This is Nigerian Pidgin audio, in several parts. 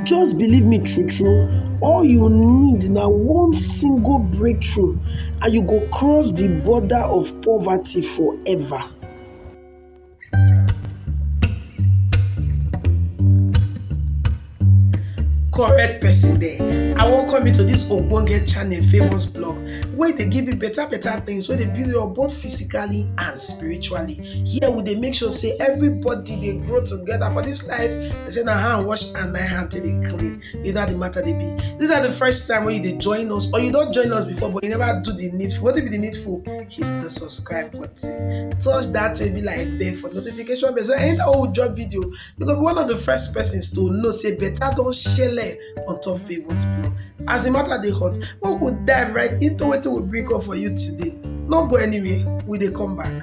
Just believe me true true, all you need na one single breakthrough and you go cross the border of poverty forever. correct person there i welcome you to this ogbonge channel famous blog wey dey give you better better things wey dey build you up both physically and spiritually here we dey make sure say everybody dey grow together for this life They say na hand wash and na hand take dey clean. You know how the matter dey be. These are the first time when you dey join us or you don join us before but you never do the needful. What be the needful? Hit the subscribe button. Touch that baby like bell for notification bell. So anytime we drop video, you go be one of the first persons to know say better don shele on top Favour's blog. As the matter dey hot, we go dive right into wetin we bring up for you today. No go anywhere, we dey come back.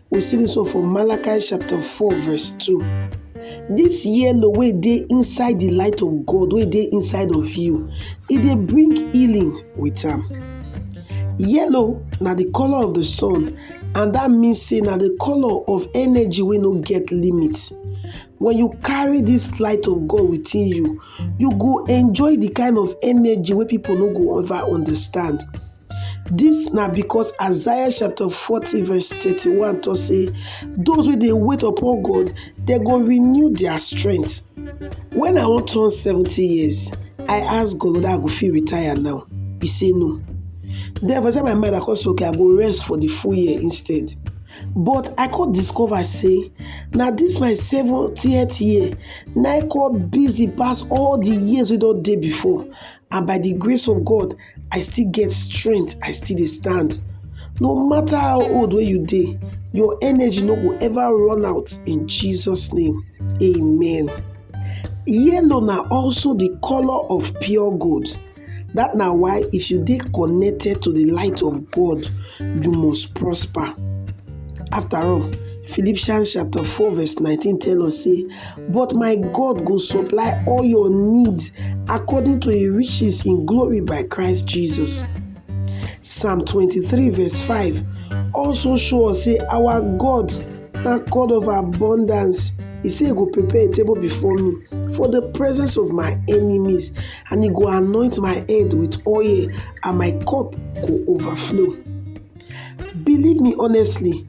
We see this one for Malachi chapter 4 verse 2. This yellow way dey inside the light of God, way dey inside of you, e dey bring healing with am. Yellow na the color of the sun and that means say na the color of energy wey no get limit. When you carry this light of God within you, you go enjoy the kind of energy wey people no go ever understand. Dis na because Isaiah chapter forty verse thirty-one tok sey those wey dey wait upon God dem go renew their strength. Wen I wan turn seventy years I ask God whether I go fit retire now, he say no. Den for inside my mind I come say okay I go rest for the full year instead but I come discover sey na dis my seventieth year na im come busy pass all the years wey don dey before and by the grace of God I still get strength, I still dey stand. No matter how old wey you dey, your energy no go ever run out in Jesus name. Amen. Yellow na also the color of pure gold. That na why if you dey connected to the light of God, you must prosper. After all, Philippians chapter 4 verse 19 tell us say But my God go supply all your needs according to his riches in glory by Christ Jesus. Psalm 23 verse 5 also show us say our God na God of abundance. He say he go prepare a table before me for the presence of my enemies and he go anoint my head with oil and my cup go overflow. Believe me honestly,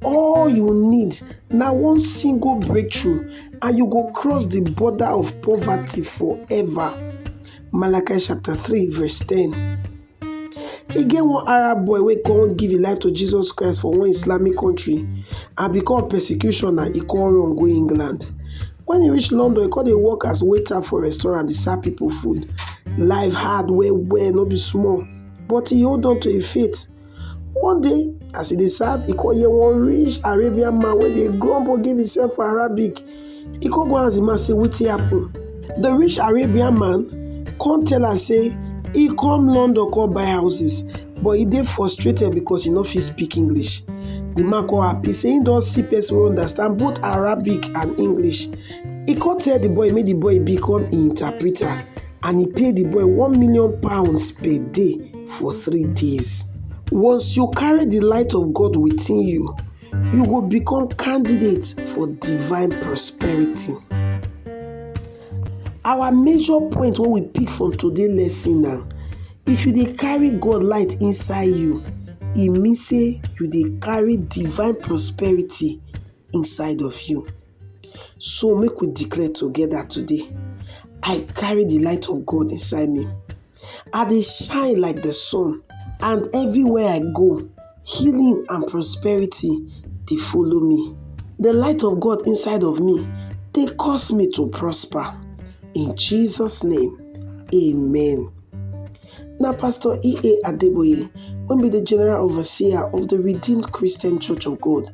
All you need na one single breakthrough and you go cross the border of poverty forever. Malachi chapter 3 verse 10. E get one Arab boy wey come give im life to Jesus Christ for one Islamic country and because of persecution na e come run go England. When e reach London, e come dey work as waiter for restaurant dey serve people food. Life hard well well no be small but e hold on to im faith. One day, as e dey serve, e come hear one rich Arabian man wey dey grumble give himself for Arabic. E come go ask the man say wetin happen. The rich Arabian man come tell am say e come London come buy houses but e dey frustrated because e no fit speak English. The man come happy say he don see person wey understand both Arabic and English. E come tell the boy make the boy become im interpreter. and he pay the boy one million pounds per day for three days. Once you carry the light of God within you, you go become candidate for divine prosperity. Our major point when we pick from today lesson now, if you dey carry God light inside you, e mean say you dey carry divine prosperity inside of you. So make we declare together today I carry the light of God inside me. I dey shine like the sun, and everywhere I go, healing and prosperity dey follow me. The light of God inside of me dey cause me to prosper. In Jesus' name, amen. Na Pastor E.A. Adeboye wey be the General Overseer of the Redeemed Christian Church of God